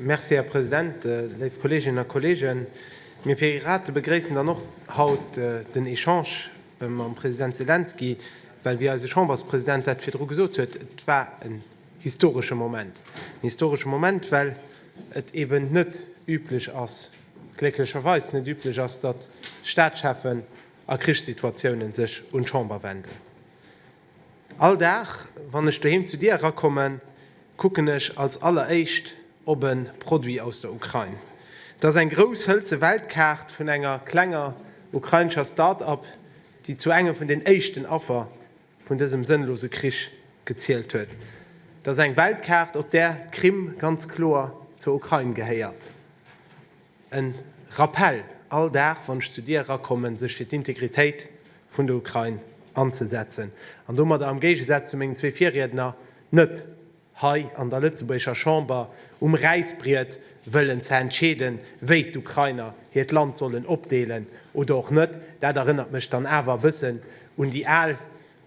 Merci, Här President. Léif Kolleeginnen a Kolleegen, mir Pirate begréissen dann och haut den Echange mam President Selenskyj, well, wéi eise Chamberspresident dat virdru gesot huet, et war en historesche Moment. En historesche Moment, well et eeben net üblech ass, glécklecherweis net üblech ass, datt Staatschefen a Krichssituatiounen sech un d'Chamber wenden. All Dag wann ech doheem zu dir erakommen, kucken ech als alleréischt op e Produit aus der Ukrain. Dat ass eng grouss hëlze Weltkaart vun enger klenger ukrainescher Start-Up, déi zu engem vun den éischten Affer vun dësem sënnlose Krich gezielt huet. Dat ass eng Weltkaart, op där d'Krim ganz kloer zur Ukrain gehéiert. En Rappell all Dag wann ech zu dir erakommen, sech fir d'Integritéit vun der Ukrain anzesetzen an domadder am Géigesaz zu mengen zwee Virriedner net hei an der lëtzebuergescher Chamber um Räisbriet wëllen ze entscheeden, wéi d'Ukrainer hiert Land sollen opdeelen oder och net. Dat erënnert mech dann awer e bëssen un déi al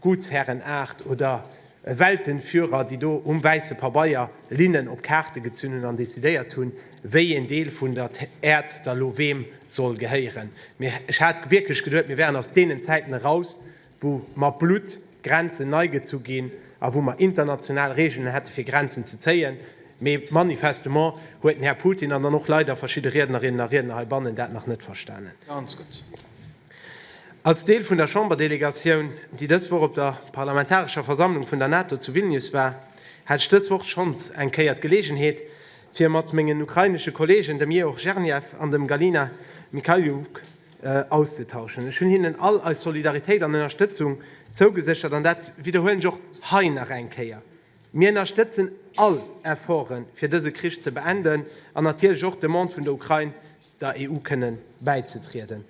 Gutsherrenaart oder e Weltenführer, déi do um wäisse Pabeier Linnen op Kaarte gezunn hunn an decidéiert hunn, wéi een Deel vun der Äerd da lo weem soll gehéieren. Mee ech hat wierklech geduet, mir wären aus deenen Zäiten eraus, wou mat Blutt Grenzen nei gezu ginn a wou mer international Regeln hätte fir Grenzen ze zéien. Mee manifestement huet den Här Putin an dann och leider verschidde Riednerinnen a Riedner heibannen dat nach net verstanen. Als Deel vun der Chamber-Delegatioun, déi dës Woch op der parlamentarescher Versammlung vun der NATO zu Vilnius war, hat ech dës Woch schonns eng Kéier d'Geleegenheet, fir mat mengen ukrainesche Kolleegen, dem Yegor Zhernyev an dem Galina Mikhailyuk, auszetauschen. Ech hunn hinnen all eis Solidaritéit an Ënnerstëtzung zougeséchert, an dat widderhuelen ech och hei nach eng Kéier. Mir ënnerstëtzen all Efforte fir dëse Krich ze beenden an natierlech och d'Demande vun der Ukrain der EU kënne bäizetrieden.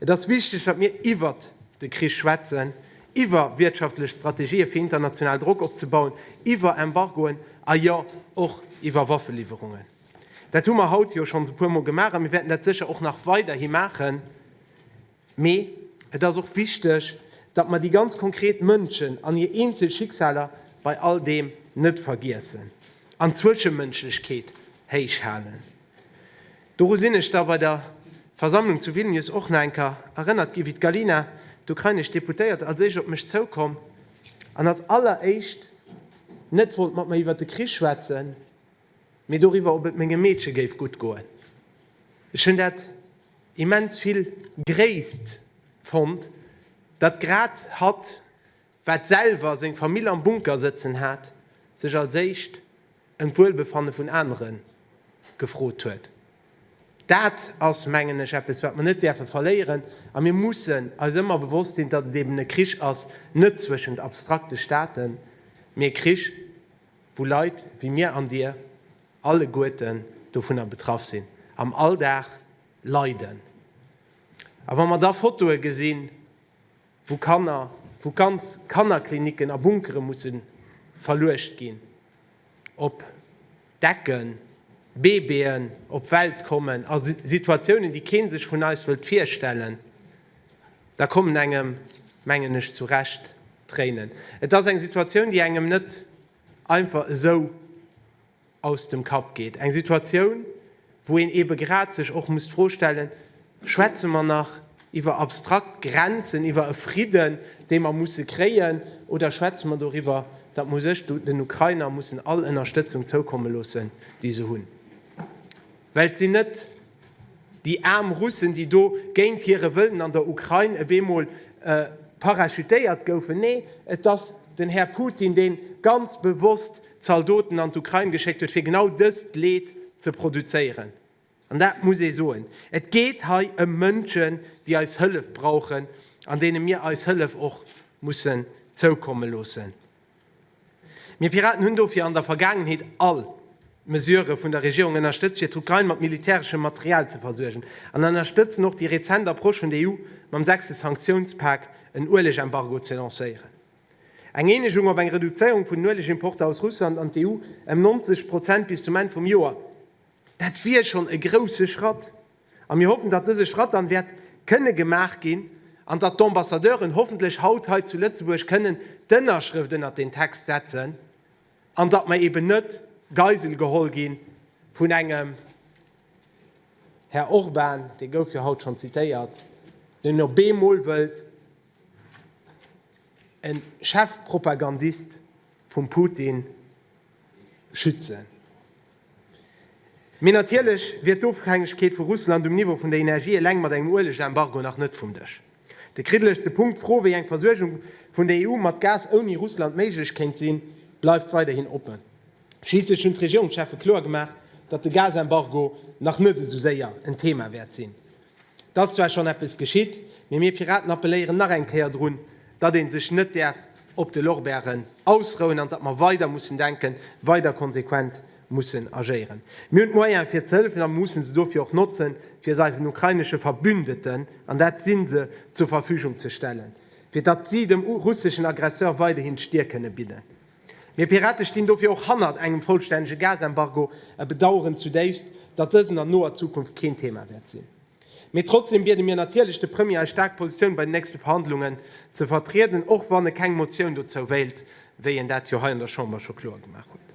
Et ass wichteg, datt mir iwwert de Krich schwätzen, iwwer wiertschaftlech Strategië fir international Drock opzebauen, iwwer Embargoen a jo och iwwer Waffeliwwerungen. Dat hu mer haut jo schonns e puer Mol gemaach a mir wäerten dat sécher och nach weiderhi maachen. Mee et ass och wichteg, datt mer déi ganz konkret Mënschen an hir eenzel Schicksaler bei all deem net vergiessen an d'Zwischemënschlechkeet héich halen. Doru sinn ech da bei der Versammlung zu Vilnius och nach enker erënnert ginn, wéi d'Galina, d'ukrainesch Deputéiert, als éischt op mech zoukomm an als alleréischt net wollt mat mer iwwert de Krich schwätzen, mee doriwwer, ob et mengem Meedche géif gutt goen. Ech hunn dat. immens vill Gréisst fonnt, datt grad hatt, wat selwer seng Famill am Bunker sëtzen hat, sech als éischt ëm d'Wuelbefanne vun anere gefrot huet. Dat ass, mengen ech, eppes, wat mer net däerfe verléieren. A mir mussen eis ëmmer bewosst sinn, datt et eben e Krich ass, net zwëschent abstrakte Staaten, mee e Krich, wou Leit wéi mir an dir, alleguerten dovunner betraff sinn, am Alldag leiden. A wa mer da Fotoe gesinn, wou Kanner, wou ganz Kannerklinicken a Bunkere musse verluecht ginn, op Decken, Baby'en op d'Welt kommen, a Situatiounen, déi kee sech vun eis wëllt virstellen, da kommen engem, mengen ech, zu Recht d'Tréinen. Et ass eng Situatioun, déi engem net einfach esou aus dem Kapp geet, eng Situatioun, wou een eebe grad sech och muss d'Fro stellen, Schwätze mer nach iwwer abstrakt Grenzen, iwwer e Fridden, dee mer musse kréien, oder schwätze mer doriwwer, datt mer sech, den Ukrainer, mussen all Ënnerstëtzung zoukomme loossen, déi se hunn, well et sinn net. Déi aarm Russen, déi do géint hire Wëllen an der Ukrain e bemol parachutéiert goufen. Nee, et ass den Här Putin, dee ganz bewosst Zaldoten an d'Ukrain geschéckt huet, fir genau dëst Leed ze produzéieren. An dat muss ee soen. Et geet hei ëm Mënschen, déi eis Hëllef brauchen an deene mir eis Hëllef och mussen zoukomme loossen. Mir Piraten hunn dofir an der Vergaangenheet all Mesure vun der Regierung ënnerstëtzt, fir d'Ukrain mat militäreschem Material ze versuergen, an ënnerstëtzen och déi rezent Approche vun der EU, mam sechste Sanktiounspak en Ueleg-Embargo ze lancéieren. Eng Eenegung op eng Reduzéierung vun den Uelegimporter aus Russland an d'EU ëm 90 Prozent bis zum Enn vum Joer, dat wier schonn e grousse Schratt. A mir hoffen, datt dëse Schratt dann wäert kënne gemaach ginn an datt d'Ambassadeuren hoffentlech haut hei zu Lëtzebuerg kënnen d'Ënnerschrëft ënnert deen Text setzen an datt mer eben net Geisel geholl gi vun engem Här Orban, dee gouf jo haut schonn zitéiert, deen op eemol wëllt e Chefpropagandist vum Putin schützen. Mee natierlech wier d'Ofhängegkeet vu Russland um Niveau vun der Energie eleng mat engem Ueleg-Embargo nach net vum Dësch. De kriddelegste Punkt, d'Fro, wéi eng Versuergung vun der EU mat Gas ouni Russland méiglech kéint sinn, bleift weiderhin oppen. Schliisslech hunn d'Regierungscheffe kloer gemaach, datt de Gas-Embargo nach net esou séier en Thema wäert sinn. Et ass zwar schonn eppes geschitt, mee mir Piraten appelléieren nach eng Kéier drun, datt ee sech net däerf op de Lorbeeren ausrouen an datt mer weider mussen denken, weider konsequent mussen agéieren. Mir hunn d'Moyene fir ze hëllefen a mir mussen se dofir och notzen, fir se eisen ukrainesche Verbündeten, an dat si se, zur Verfügung ze stellen, fir datt si dem russeschen Aggresseur weiderhin d'Stier kënne bidden. Mir Pirate stinn dofir och hannert engem vollstännege Gasembargo a bedaueren zudéifst, datt dësen an noer Zukunft keen Thema wäert sinn. Mee trotzdeem biede mir natierlech de Premier eis staark Positioun bei de nächste Verhandlungen ze vertrieden, och wann e keng Motioun dozou wéilt, wéi en dat jo hei an der Chamber scho kloer gemaach huet.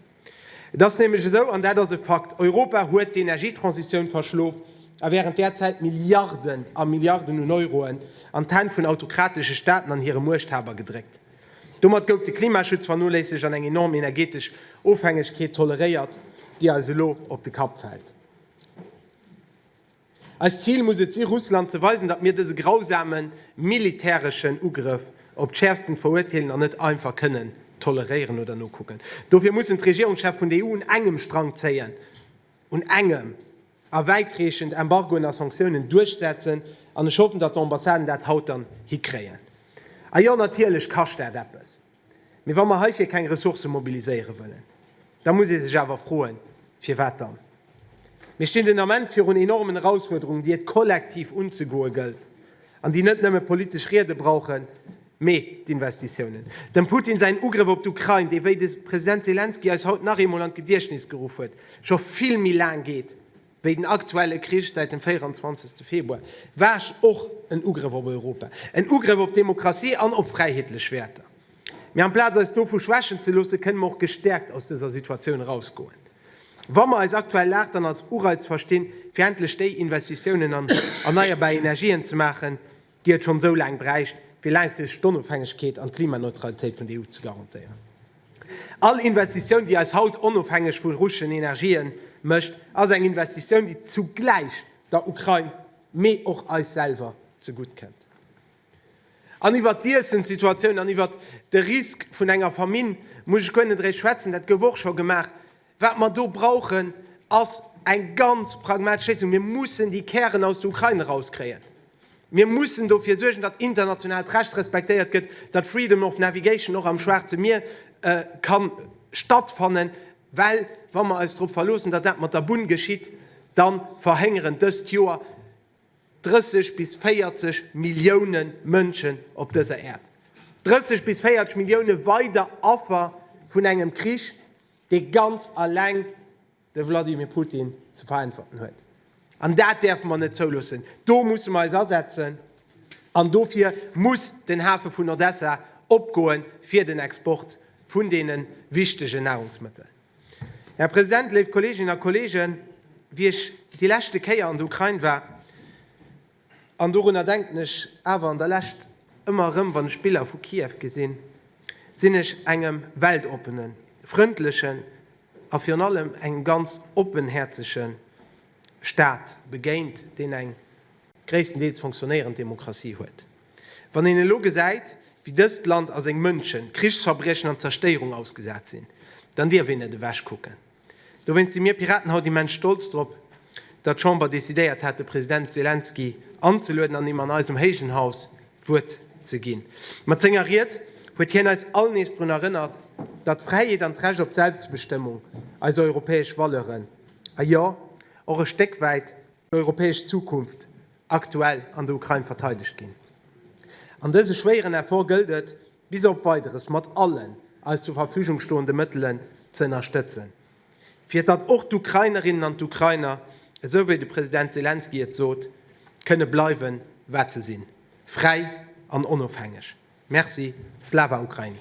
Et ass nämlech esou, an dat ass e Fakt, Europa huet d'Energietransitioun verschlof a während där Zäit Milliarden a Milliarden un Euroen an d'Hänn vun autokratesche Staaten an hire Muechthaber gedréckt. Domat gouf de Klimaschutz vernoléissegt an eng enorm energeetesch Ofhängegkeet toleréiert, déi eis elo op de Kapp fält. Eist Zil muss et si Russland ze weisen, datt mir dëse grausame militäreschen Ugrëff op d'Schäerfsten veruerteelen an net einfach kënnen toleréieren oder nokucken. Dofir mussen d'Regierungschef vun der EU un engem Strang zéien, un engem! a wäitreechend Embargoen a Sanktiounen duerchsetzen, an ech hoffen, datt d'Ambassaden dat haut dann hikréien. A jo, natierlech kascht dat eppes, mee wa mer heifir keng Ressourcë mobiliséiere wëllen, da muss ee sech awer froen, firwat dann? Mir stinn den Ament virun enormen Erausfuerderungen, déi et kollektiv unzegoe gëllt. An déi net nëmme politesch Riede brauchen, mee d'Investitiounen. Dem Putin säin Ugrëff op d'Ukrain, dee wéi de President Selenskyj eis haut nach eemol an d'Gediechtnis geruff huet, scho vill méi laang geet wéi den aktuelle Krich säit dem 24. Februar, war och en Ugrëff op Europa, en Ugrëff op d'Demokratie an op fräiheetlech Wäerter. Mee amplaz eis dovu schwächen ze loossen, kënne mer och gestäerkt aus dëser Situatioun erausgoen. Wa mer eis aktuell Lag dann als Ureiz verstinn, fir endlech déi Investitiounen an erneierbar Energien ze maachen, déi et schonn esou laang bräicht, fir laangfristeg d'Onofhängegkeet an d'Klimaneutralitéit vun der EU ze garantéieren. All Investitioun, déi eis haut onofhängeg vu russeschen Energien mécht, ass eng Investitioun, déi zugläich der Ukrain, mee och eis selwer zegutt kënnt. An iwwert d'Iessenssituatioun an iwwert de Risk vun enger Famine muss ech guer net eréischt schwätzen, dat gouf och scho gemaach. Wat mer do brauchen, ass eng ganz pragmatesch Léisung. Mir mussen déi Kären aus der Ukrain erauskréien. Mir mussen dofir suergen, datt internationaalt Recht respektéiert gëtt, datt freedom of navigation och am Schwaarze Mier ka stattfannen, well wa mer eis drop verloossen, datt dat mat der Bunn geschitt, da verhéngeren dëst Joer, 30 bis 40 Millioune Mënschen op dëser Äerd, 30 bis 40 Millioune weider Affer vun engem Krich, dee ganz eleng de Vladimir Putin ze veräntwerten huet. An dat däerfe mer net zouloossen. Do musse mer eis asetzen. An dofir muss den Hafe vun Odessa opgoen, fir den Export vun deene wichtege Nahrungsmëttel. Här President, léif Kolleeginnen a Kolleegen, wéi ech déi leschte Kéier an der Ukrain war, an dorunner denken ech awer an der Lescht ëmmer erëm, wann ech Biller vu Kiew gesinn, sinn ech engem weltoppenen, frëndlechen a virun allem engem ganz oppenhäerzege Staat begéint, deen eng gréisstendeels fonctionnéierend Demokratie huet. Wann een elo gesäit, wéi dëst Land a seng Mënschen Krichsverbriechen an Zerstéierung ausgesat sinn, dann dierf een net ewech kucken. Dowéinst si mir Piraten haut immens stolz drop, datt d'Chamber decidéiert hat, de President Selenskyj anzelueden an him an eisem héijen Haus d'Wuert ze ginn. Mat senger Ried huet hien eis all nees drun erënnert, datt d'Fräiheet an d'Recht op Selbstbestëmmung eis europäesch Valeuren, a jo, och e Stéck wäit, europäesch Zukunft aktuell an der Ukrain verteidegt ginn. An dëse schwéieren Effort gëllt et, bis op Weideres mat allen eis zur Verfügung stoende Mëttelen ze ënnerstëtzen, fir datt och d'Ukrainerinnen an d'Ukrainer, esou wéi de President Selenskyj et sot, kënne bleiwen, wat se sinn, fräi an onofhängeg. Merci. Slava Ukraini!